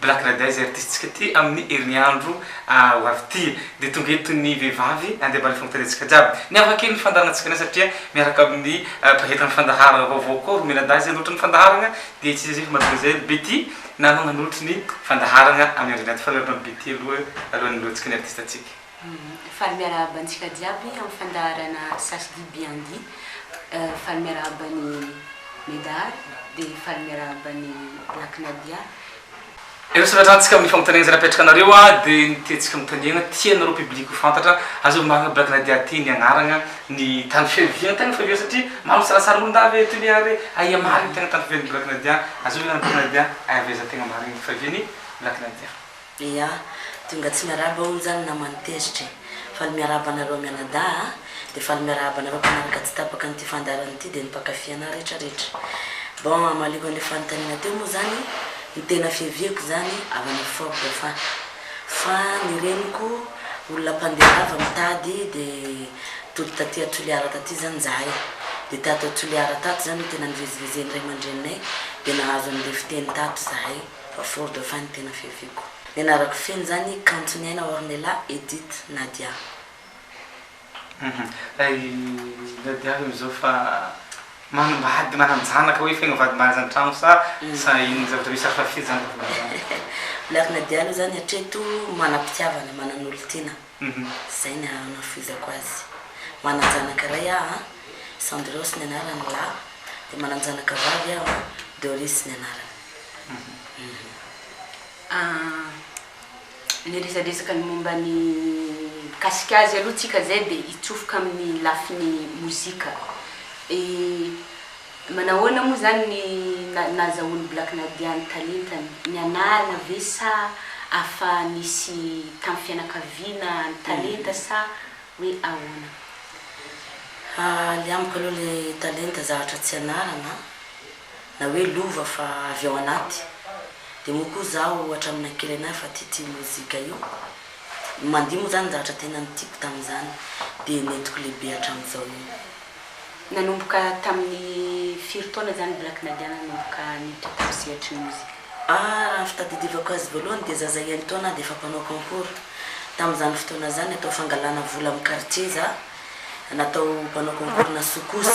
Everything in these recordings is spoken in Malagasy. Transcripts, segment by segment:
Black Red Eye zay artiste-tsika ty amin'ny herinandro ho avy ty. Dia tonga eto ny vehivavy andeha mba alefa amim-pitadiantsika jiaby. Miavaka kely ny fandaharantsika anay satria miaraka amin'ny mpahetra ny fandaharana vaovao koa Romelina Dahy izay nolotran'ny fandaharana dia tsy iza iza fa Madame Jael Betty namana nolotry ny fandaharana amin'ny andro indray ty. Mifanaraka amin'i Betty aloha alohan'ny noloantsika ny artiste-tsika. Faly miarahaba antsika jiaby amin'ny fandaharana Sasy dit bien dit Faly miarahaba an'i Medard dia faly miarahaba an'i Black Nadia. Ireo sokatrantsika amin'ny fanontaniana izay napetraka anareo dia ny tiantsika anontaniana, tianareo public ho fantatra, azon'ny marina Black Nadia ty ny agnaragna, ny tany fiaviagna, tegna fiaviagna satria maro ny salasala olo ndavy eto anie ary aia marigny tegna tany fiavian'i Black Nadia, azon'ny anarana Black Nadia, aiza aiza tegna marigny fiavian'i Black Nadia. Eya, tonga tsy miarahaba hono zany namany tezitra e! Faly miarahaba anareo mianadahy a! Dia faly miarahaba anareo mpanaraka tsy tapaka an'ity fandaharana ity dia ny mpankafy anah rehetra rehetra. Bon, hamaliako an'ilay fanontaniana teo moa zany, ny tena fiaviako zany avy any Ford fa fa ny reniko olona mpandeha lava mitady dia tody taty a Toliara taty zany zahay dia tato a Toliara tato zany no tena nivezivezen'ny ray aman-dreninay dia nahazo an'ilay fiteny tato zahay. Fa Ford efa ny tena fiaviako. Ny anarako feno izany kanton'i Aina Ornella Edith Nadia. Hum hay Nadia aloha izao fa manambady mananjanaka hoe feno vady mahazo an-trano sa sa inona ny zavatra misy hafa f'izany. Black Nadia aloha izany hatreto manam-pitiavana, manan'olon-tiana. Izay ny anafizako azy. Manan-janaka iray aho an, Sandros ny anarany lahy, dia manan-janaka vavy aho an, Doris ny anarany. Niresadresaka ny momba ny mikasika azy aloha tsika zay dia hitsofoka amin'ny lafiny mozika. Manahoana moa izany ny nahazahoan'i Black Nadia ny talentany? Nianarana ve sa afa nisy tamin'ny fianakaviana ny talenta sa hoe ahoana? Ny amiko aloha ilay talenta zavatra tsy ianarana na hoe lova fa avy ao anaty. Dia moa koa izaho hatramin'ny kely anay efa tia tia mozika io. Ny mandihy moa izany zavatra tena nitiako tamin'izany dia nentiko lehibe hatramin'izao io. Nanomboka tamin'ny firy taona izany Black Nadia nanomboka niditra tao sehatry ny nosy? A, Raha ny fitadidiavako azy voalohany dia zaza enin-taona aho dia efa mpanao concours. Tamin'izany fotoana izany atao fangalana vola amin'ny quartier za, natao mpanao concours-na soukous.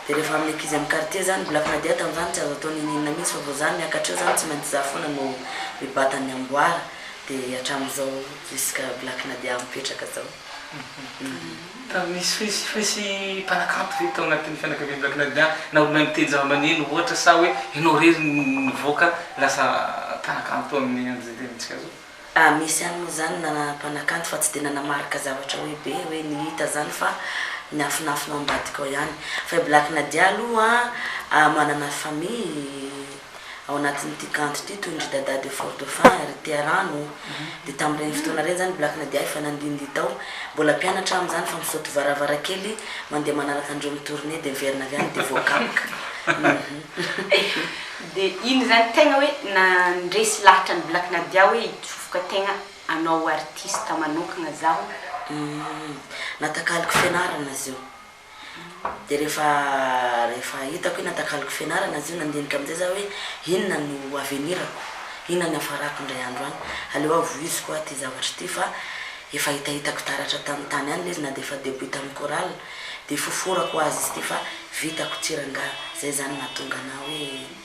Dia rehefa amin'ny ankizy amin'ny quartier izany, Black Nadia tamin'izany tsy azo atao ninininina mihitsy fa vao za miakatra eo izany tsy maintsy za foana no mibata ny amboara. Dia hatramin'izao jusqu'à Black Nadia mipetraka izao. Raha misy fesifaisy mpanakanto ve tao anatin'ny fianakavian'i Black Nadia na olona niteny zava-maneno ohatra sa hoe ianao irery no nivoaka lasa mpanakanto amin'ny andron'izay tenintsika izao? Ah, misy ihany moa izany na mpanakanto fa tsy dia nanamarika zavatra hoe be hoe ny hita izany fa ny afonafona ao ambadika ao ihany. Fa i Black Nadia aloha manana famille. ao anatin'ity kanto ity toy ny ry Dada de Fort Dauphin, ry Tia rano, dia tamin'ireny fotoana ireny izany Black Nadia efa nandindihy tao, mbola mpianatra aho amin'izany fa misaoty varavarakely mandeha manaraka an'ireo mi-tournée dia miverina avy any dia voakapoka. Dia iny izany tegna hoe nandresy lahatra an'i Black Nadia hoe hitsofoka tegna hanao artiste manokagna zaho. Natakaloko fianarana izy io. Dia rehefa rehefa hitako hoe natakaloko fianarana izy io, nandinika amin'izay za hoe inona no ho avenir-ko, inona no hiafarako indray andro any. Aleo aho voiziko aho ity zavatra ity fa efa hitahitako taratra tamin'ny tany any ilay izy na dia efa debut tamin'ny chorale. Dia foforako ho azy izy ity fa vitako tsy rangahy. Izay izany no nahatonga anà hoe.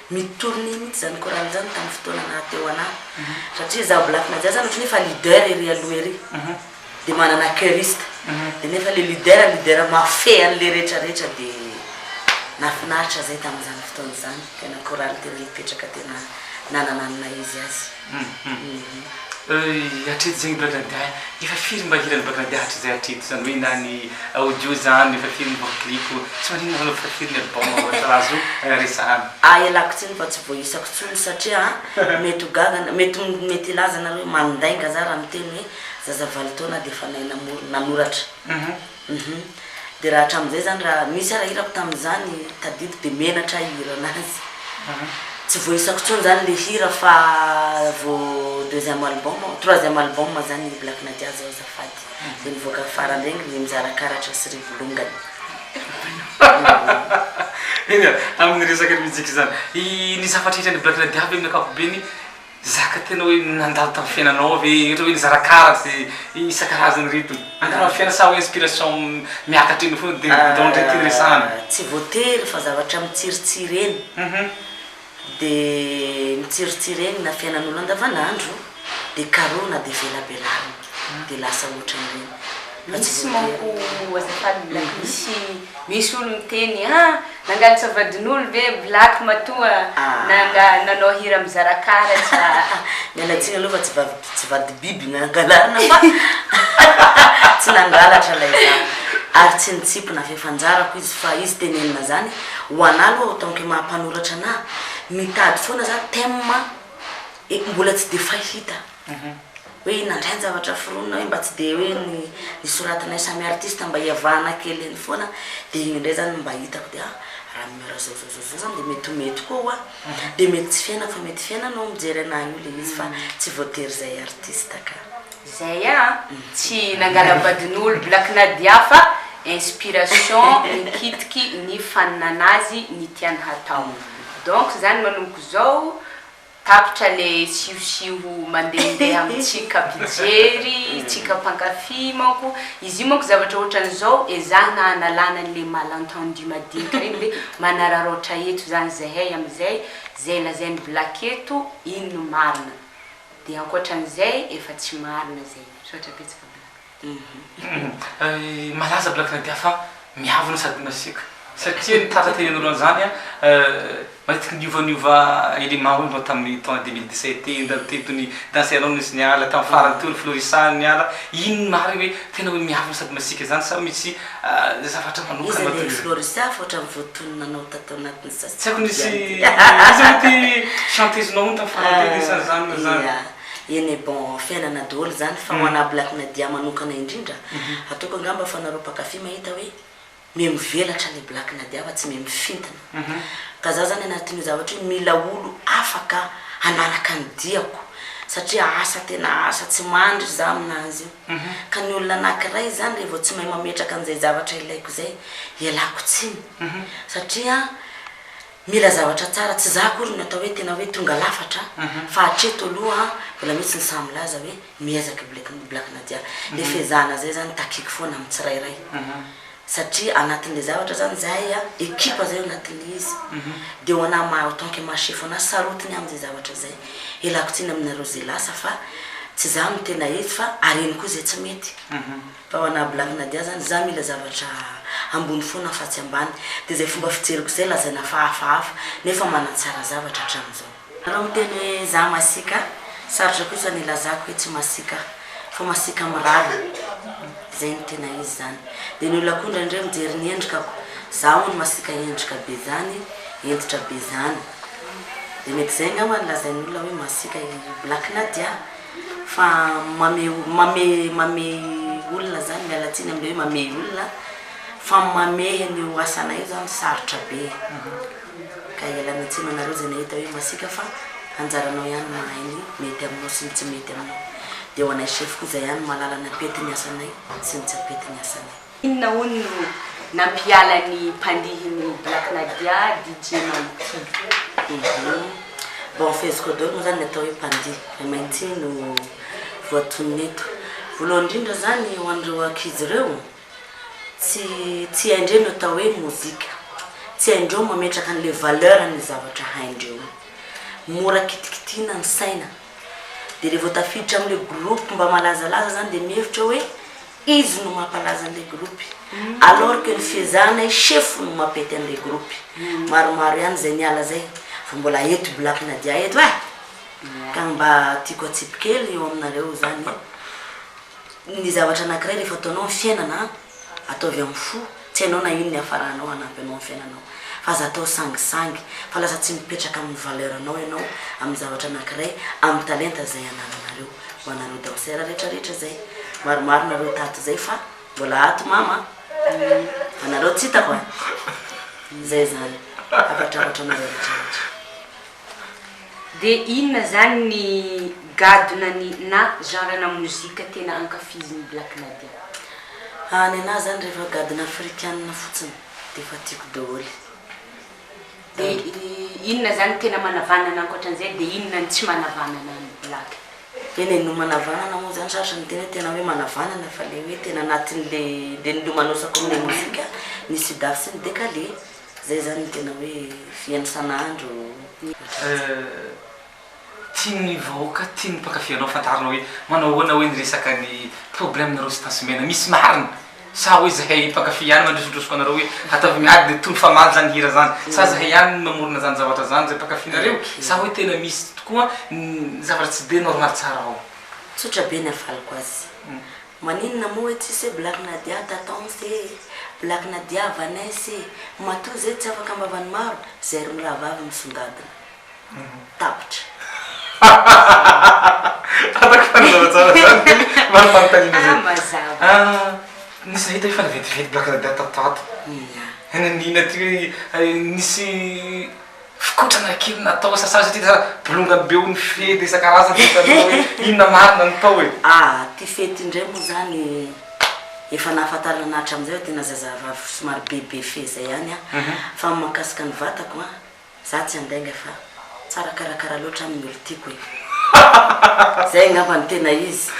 Mitourner mihitsy izany chorale izany tamin'ny fotoana naha teo anah satria izaho black madia izany ohatran'ny hoe efa leader ery aloha ery dia manana choristes dia nefa ilay leader leader mahafehy an'ilay rehetra rehetra dia nahafinaritra izay tamin'izany fotoana izany tena chorale tena nipetraka tena nanana ny maha izy azy. Hum hatreto zegny blague dia efa firy mba hiran'i blague dia hatrizay hatreto zany hoe na ny audio zany efa firy mba clip tsy maninona anao efa firy ny album ohatra raha azo resahana. Ahy ialako tsiny fa tsy voaisako tsony satria mety ho gaga na mety mety hilaza nareo hoe mandainga za raha miteny hoe zazavalo taona dia efa nahay namory nanoratra. Uhum. Dia raha hatramin'izay izany raha nisy ary hirako tamin'izany tadidy dia menatra aho hihira anazy. Tsy voaisako intsony izany ilay hira fa vao deuxième album, troisième album izany ny Black Nadia zao azafady. Dia nivoaka farany regny ny Mizara karatra sy Rivolongany. Enga, amin'ny resaka ny mizika izany. Nisy hafatr'hira an'i Black Nadia ve amin'ny ankapobeny? Zaka tena hoe nandalo tamin'ny fiainanao ao ve ohatra hoe nizara karatra izay isan-karazany ireto? Nandalo amin'ny fiainana sa hoe inspiration miakatra eny foana dia nandao an'ireny tiany resahana? Tsy voatery fa zavatra mitsiritsiry eny dia mitsiritsiry eny na fiainan'olona andavanandro dia karohina dia velabelarina dia lasa ohatran'ireny fa tsy voatery. Misy manko azafady black misy misy olo miteny ah Nangalatra vadin'olo ve black matoa nanga nanao hira mizara karatra a. Miala tsiny aloha fa tsy vavy tsy vady biby nangalana fa tsy nangalatra lay za ary tsy nitsipy na fefy anjarako izy fa izy tenenina zany ho anah aloha en tant que maha mpanoratra anah mitady foana za thème mbola tsy de fahita. Hoe nandray ny zavatra foronina hoe mba tsy dia hoe ny ny soratanay samy artiste mba iavahana kely eny foana dia iny indray zany no mba hitako dia ah raha ny miora zao zao zao zao zany dia mety ho mety koa hoa dia mety tsy fiainako fa mety fiainana hoa mijery anahy io le izy fa tsy voatery izay artiste ka. Zay a! Tsy nangala-badin'olo Black Nadia fa inspiration nikitiky ny faninan'azy ny tiany hatao. Donc zany manomboka izao. Tapitra le siosiho mandehandeha amintsika mpijery, tsika mpankafy manko, izy io manko zavatra ohatran'izao ezahina analana an'le mal entendu madinika reny hoe manararaotra eto zany zahay amin'izay, zay lazain'i black eto iny no marina, de ankoatran'izay efa tsy marina zay, misaotra betsaka black. Malaza Black Nadia fa miavona sady masiaka satria ny tatra teny anoloana izany matetika niovaniova élément hono vao tamin'ny taona 2017 teo indray teo tony danse anao nisy niala tamin'ny farany teo ny Florissa niala iny marina hoe tena hoe miavona sady masiaka izany sa misy zavatra manokana izy ilay Florissa fa ohatran'ny voatonona anao tato anatin'ny sasany tsy haiko nisy izy hoe ty chanteuse-nao hono tamin'ny farany teo nisy an'izany na izany Eny bon fiainana dool zany fa ho ana Black Nadia manokana indrindra ataoko angamba fa nareo mpakafy mahita hoe me mivelatra le Black Nadia fa tsy me mifintina ka za zany anatin'io zavatra io mila olo afaka hanaraka ny diako satria asa tena asa tsy mandry za aminazy io ka ny olona anakiray zany re vao tsy mahay mametraka an'izay zavatra ilaiko zay ialako tsiny satria Mila zavatra tsara, tsy za akory no atao hoe tena hoe tonga lafatra fa hatreto aloha mbola misy ny sahy milaza hoe miezaka i Black Black Nadia. Le fehezahana zay zany takiako foana amin'ny tsirairay satria anatin'le zavatra zany zahay a, ekipa zay ao anatin'le izy de ho anah ma- en tant que ma chef anah sarotiny aho amin'izay zavatra zay. Ialako tsiny aminareo ze lasa fa tsy za no tena izy fa hareno koa ze tsy mety. Tao ana black nadia zany za mila zavatra ambony fona fa tsy ambany de zay fomba fijeriko zay lazaina fa hafahafa nefa manatsara zavatra atramizao. Raha miteny hoe za masiaka, sarotra kosa ny ilazako hoe tsy masiaka fa masiaka mirary zay no tena izy zany. De ny olona koa indraindray mijery ny endrikako, za hono masiaka endrika be zany, hentitra be zany. De mety zay angamba no lazain'olona hoe masiaka i black nadia fa mame mame mamehy olona zany miala tsiny amle hoe mamehy olona fa mamehy an'io asanay io zany sarotra be ka ialana tsiny anareo zay nahita hoe masiaka fa anjaranao ihany mahay ny mety aminao sy ny tsy mety aminao de ho anay chef koa zay ihany mahalala ny apety ny asanay sy ny tsy apety ny asanay Inona hono no nampiala ny mpandihin'i Black Nadia DJ Mighty ee. Bon feziko daholo moa zany ny atao hoe mpandihy fa i Mighty no voatonona eto. Voalohany indrindra zany ho an'ireo ankizy ireo tsy tsy haindreo ny atao hoe mozika, tsy haindreo mametraka an'ilay valeur ny zavatra haindreo io. Mora kitikitihina ny saina dia revô tafiditra amin'ilay groupe mba malazalaza zany dia mihevitra hoe Izy no mampalaza an'ilay groupe alors que ny fiezahanay chef no mampety an'ilay groupe. Maromaro ihany izay niala zay fa mbola eto black nadia eto eh! Ka ny mba tiako atsipy kely eo aminareo zany eh! Ny zavatra anakiray rehefa ataonao ny fiainana an! Ataovy amin'ny fo. Tsy hainao na ino ny hafaranao hanampy anao amin'ny fiainanao fa aza atao sangisangy fa lasa tsy mipetraka amin'ny valeur anao ianao amin'ny zavatra anakiray amin'ny talenta izay anananareo ho anareo danseur rehetra rehetra izay maromaro nareo tato izay fa mbola ato mama anareo tsy hitako a izay izany afatrafatra anareo rehetra rehetra Dia inona zany ny gadona ny na genre na mozika tena ankafizin'i Black Nadia? Aah ny anahy zany rehefa gadona afrikana fotsiny dia efa tiako daholo. Dia inona zany tena manavanana ankoatran'izay dia inona ny tsy manavanana an'i Black? Eny e, no manavanana moa zany sarotra ny teny hoe tena hoe manavanana fa le hoe tena anatin'le le nilomanosako amin'ilay mozika ny Sidas sy ny Dekale. Zay zany ny tena hoe fiantrana andro. Tian'ny vahoaka, tian'ny mpankafy anao fantarina hoe manao ahoana hoe ny resaka ny problème nareo sy Tance Mena, misy marina? Sa hoe zahay mpankafy ihany mandrosondrosoka anareo hoe ataovy miady dia tony fa maly zany hira zany? Sa zahay ihany no mamorona zany zavatra zany zay mpankafynareo? Sa hoe tena misy tokoa ny zavatra tsy dia normal tsara ao? Tsotra be ny havaloko azy. Maninona moa hoe tsisy hoe Black Nadia Tatons ee, Black Nadia Vanessa ee, matoa izay tsy afaka ambavan'ny maro, izay roa rahavavy misongadina. Tapitra. Ataoko fanazava tsara zany maro fanontaniana zay. Aah mazava. Aah nisy nahita efa niventiventy Black Nadia tato ho ato. Inona? Inona inona ty hoe nisy Fikotrana kely natao sasà satria lasa bolongany be ony fety isan-karazany tsy hitanao hoe inona marina no tao e! Ah! Ity fety indray moa izany efa nahafantarana hatramizay fa tena zazavavy somary bebe fee zay ihany an! Fa ny mahakasika ny vatako an! Za tsy handainga fa tsara karakara loatra aminy ny olon-tiako e! Zay angamba no tena izy!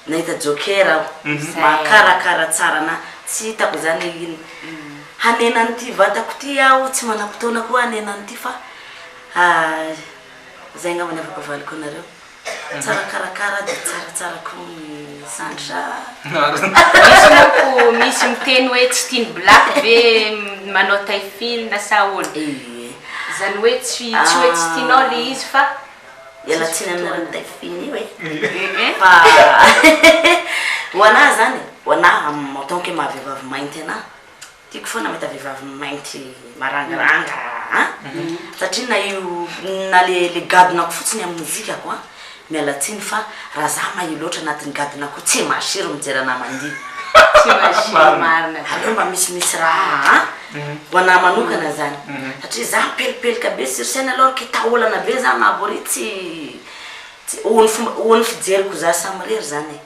Nahita joker aho, mahakarakara tsara anà, tsy hitako izany hoe inona. Hanena an'ity vatako ity aho, tsy manam-potoana koa hanena an'ity fa izay angamba ny afaka avaliko anareo. Tsara mikarakara dia tsara tsara koa ny Sandra. Misy manko, misy miteny hoe tsy tian'i Black ve manao taille fine sa ahoana? Izany hoe tsy hoe tsy tianao ilay izy fa Iala tsiny aminareo Delphine io e. Fa ho anah zany, ho anah en tant que maha vehivavy mainty anah, tiako foana mahita vehivavy mainty marangaranga an! Satria na io, na le le gadonako fotsiny amin'ny mozikako an! Miala tsiny fa raha zah mahia loatra anatin'ny gadona ko tsy mahasiro mijery anah mandihy. Tsy mahasiro marina zany. Aleo mba misimisy raha an! ho anah manokana izany satria za pelipelika be sur scène alors que taolana be za na bory tsy tsy ho an'ny fomba ho an'ny fijeriko za samirery zany e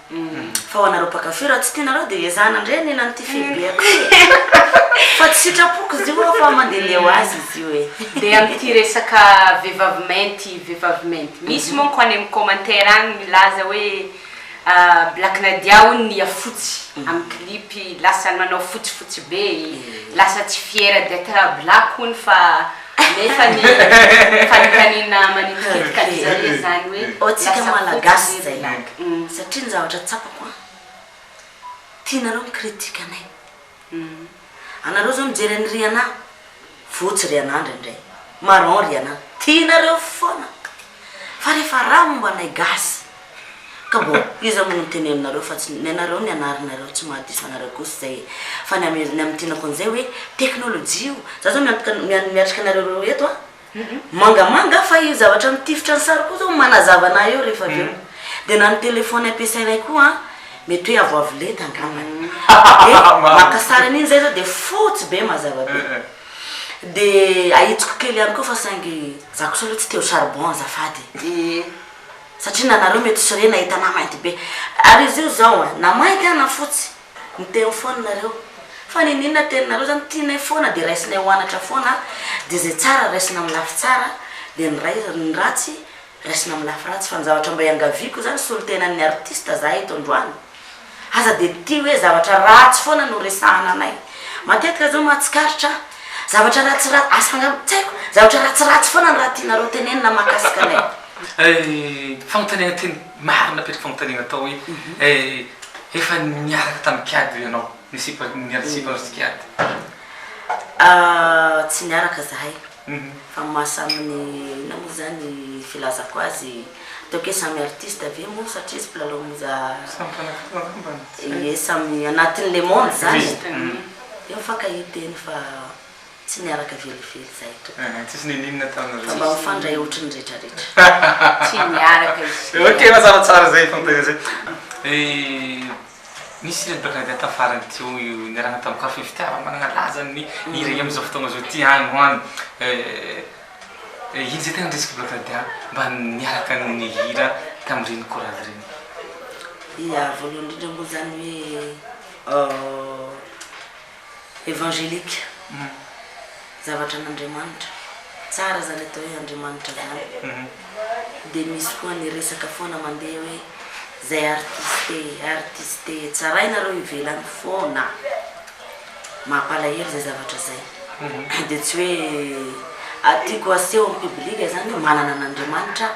fa ho anareo mpakafy raha tsy tianareo dia ezahana ndray ny nan'ity fibeako fa tsy sitrapoko izy io fa mandehandeha ho azy izy io e dia amin'ity resaka vehivavy mainty vehivavy mainty misy manko any amin'ny commentaire any milaza hoe Black Nadia hono nia fotsy amin'ny clip lasany manao fotsy fotsy be lasa tsy fière d'etre black hono fa nefany fanotaniana manitikitika ny zare zany hoe lasa fotsy ve black satria ny zavatra tsapako an tianareo mi critique anay. Anareo zao mijery an'i Rihanna fotsy Rihanna ndraindray marron Rihanna tianareo foana fa refa raha momba anay gasy ka bon iza moa no niteneninareo fa tsy nenareo nianarinareo tsy maha diso anareo kosy zay e fa ny amin'ny tianako an'izay hoe technologie io za zao miantoka miatrika anareo roa eto a. mangamanga fa io zavatra mitifitra ny sary koa zao manazava anah eo rehefa avy eo de na ny telephone ampiasainay koa an mety hoe avoavo lenta angambany de maka sary an'iny zay zao de fotsy be mazava be de ahitsiko kely ihany koa fa saingy za kosa aloha tsy te ho charbon azafady e satria nanareo mety sorena hitanah mainty be ary izy io zao an na mainty an na fotsy Miteny foana nareo. Fa niniana teninareo zany tianay foana de raisinay ho anatra foana de zay tsara raisina am lafy tsara de ny ray ny ratsy raisina am lafy ratsy fa ny zavatra mba iangaviako zany solontenan'ny artiste zahay eto androany aza de tia hoe zavatra ratsy foana no resahana anay matetika zao ma tsikaritra ah zavatra ratsy ratsy asa angamba tsy haiko zavatra ratsy ratsy foana ny raha tianareo tenenina mahakasika anay. Hay fanontaniana tena. Marina apetrako fanontaniana atao hoe eh efa niaraka tamin'i Kiady ve ianao? Ny sipa niady sipa sy Kiady. Ah tsy niaraka zahay fa maha samy ny inona moa izany filazako azy ataoko hoe samy artiste ve moa satria izy mpilalao moza Samy mpanafina angamba no tsy haiko. Ie samy anatin'ny le monde izany eh. Tsy mifankahita eny fa. Tsy niaraka velively izahay tompoko. Tsisy nininona taminareo. Fa mba mifandray ohatry ny rehetra rehetra. Tsy niaraka izy telo. Ok fa tsara tsara zay fantay zay. He nisy ireto baka nandeha tafarany teo niarahana tamin'ny café fitiava manana laza ny iray amin'izao fotoagna zao ty any ho any eh ino zay tegna niresaka baka nandeha mba niaraka nihira tamin'ireny chorale ireny. Ya voalohany indrindra moa zany hoe Evangelique humm zavatra an'Andriamanitra, tsara zany atao hoe Andriamanitra zany, de misy koa ny resaka foana mandeha hoe zay artiste artiste tsarainareo ivelany foana, mampalahelo zay zavatra zay, de tsy hoe tiako aseho am public zany hoe manana an'Andriamanitra aho.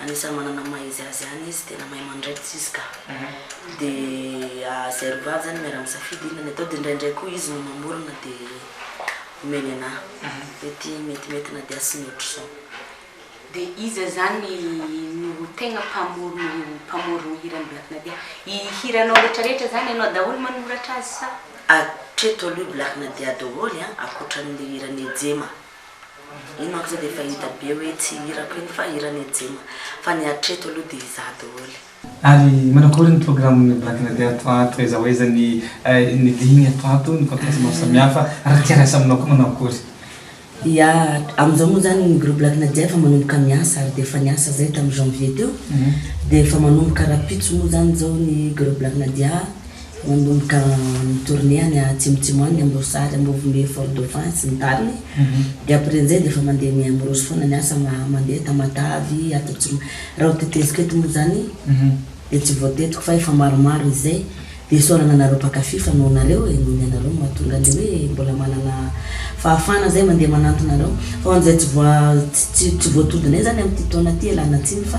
Anisan'ny manana ny maha izy azy ihany izy, tena mahay mandraikitra izy ka. Dia izay roa vavy izany miara-misafidy inona ny atao, dia indraindray koa izy no mamorona dia omeny anà hoe ity metimety na dia asiny ohatr'izao. Dia iza izany no tegna mpamorona io mpamorogno hiran'i Black Nadia? I hiranao retraretra zany ianao daholo manoratra azy sa? Hatreto aloha i Black Nadia daholo an, ankoatran'ilay hiran'i Ejema. Iny manko zao dia efa hita be hoe tsy hirako iny fa hiran'i Ejema. Fa ny hatreto aloha dia izaho daholo. Ary manao akory ny programme Black na dia ato ato aiza ho aiza ny ny ligne ato ato, ny podcast maro samihafa, raha tia rasa aminao koa manao akory? Ya, amin'izao moa izany ny groupe Black Nadia efa manomboka miasa ary dia efa niasa izay tamin'ny janvier teo, dia efa manomboka rahampitso moa izany izao ny groupe Black Nadia, Nanomboka ni-tourner any atsimotsimo any, Amboasary, Ambovombe, Fort Dauphin sy ny tariny, dia ampirin'izay dia efa mandeha ny Amorosy foana ny asa, mandeha Tamatavy, Atatro, raha ho teteziko eto moa izany dia tsy voatetiko fa efa maromaro izay, dia isaorana anareo mpakafy fa noho nareo e, noho ny anareo no mahatonga an'ilay hoe mbola manana fahafahana izay mandeha manantona anareo, fa ho an'izay tsy voa, tsy voatodinay izany amin'ity taona ity ialana tsiny fa.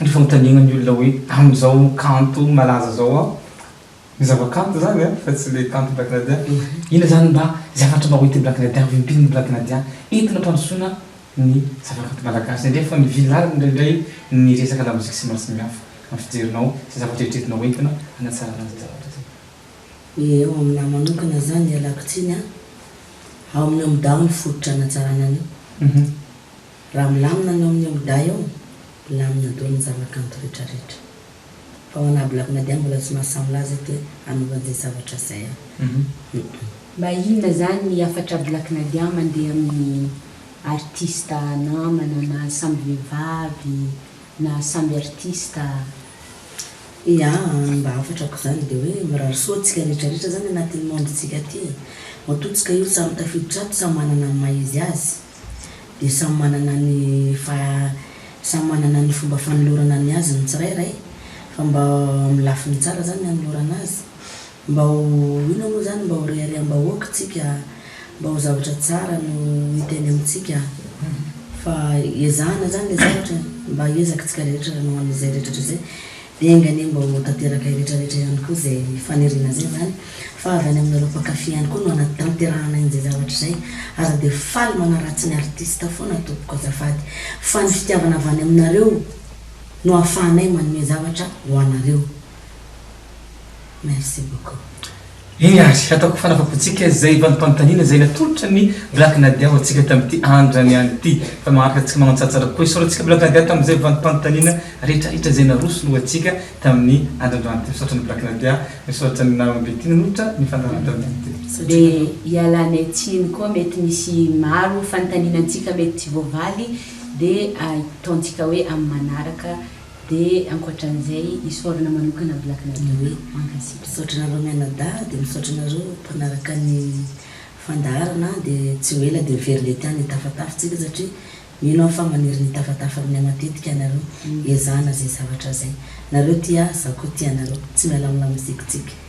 ny fanontaniana ny olona hoe amin'izao kanto malaza izao aho, ny zava-kanto izany an, fa tsy ilay kanto Black Nadia, inona izany mba zavatra mba hoentin'i Black Nadia, hovimpin'ny Black Nadia entina hampandrosoana ny zava-kanto malagasy, indrindra fa ny villarn indraindray ny resaka lamoziky sy ny maro samihafa amin'ny fijerinao izay zavatra eritreretina hoentina hanatsarana izay zavatra izay. Dia ho amin'ahy manokana izany ialako tsiny an, ao amin'ny Omdaho ny fototra hanatsarana an'io. Raha milamina ny ao amin'ny aodahy ao, lamina dolo ny zavakanto rehetra rehetra. Fa ho anah Black Nadia mbola tsy mahasahy milaza eto hoe anaova an'izay zavatra izay aho. Mba inona izany ny hafatra Black Nadia mandeha amin'ny artista namana na samby vehivavy na samby artista? Ia, ny mba hafatrako izany dia hoe mirary soa antsika rehetra rehetra izany anatin'ny monde-ntsika aty e. Matoa tsika io samy tafiditra ato samy manana ny maha-izy azy. dia samy manana ny samy manana ny fomba fanolorana ny azy ny tsirairay fa mba amin'ny lafiny tsara zany anolorana azy mba ho inona moa zany mba ho rehareham-bahoaka isika mba ho zavatra tsara no hita eny amintsika fa ezahana zany le zavatra mba hiezaky tsika rehetra hanao an'izay rehetra rehetra izay Enga anie mba ho tanteraka iretraretra ihany koa izay faniriana izay izany fa avy any aminareo mpankafy ihany koa no hanatanterahana inzay zavatra izay aza dia faly manaratsy ny artiste foana tompoko azafady fa ny fitiavana avy any aminareo no ahafahanay manome zavatra ho anareo. Merci beaucoup. Hey Ary, ataoko fanavakoantsika izay valim-panontaniana izay natolotra ny Black Nadia ho antsika tamin'ity andrany any ity. Fa maharaka antsika manan-tsatra koa. Isaorantsika Black Nadia tamin'izay valim-panontaniana rehetrarehetra izay narosony ho antsika tamin'ny andrandrany ity. Misaotra an'i Black Nadia, misaotra an'i Naomi Betty nanolotra ny fandaharan-dàlana ity. Dia ialany atsiny koa mety misy maro fanontaniana antsika mety tsy voavaly dia ataontsika hoe amin'ny manaraka Dia ankoatran'izay isaorana manokana Black Nadoe. Mankasitra. Misaotra anareo mianadahy dia misaotra anareo mpanaraka ny fandaharana dia tsy ho ela dia very lety any tafatafa tsika satria mino aho fa maniry ny tafatafa aminay matetika ianareo ezahana izay zavatra izay nareo tia ahy za koa tia anareo tsy miala amin'ny lamozikitsika.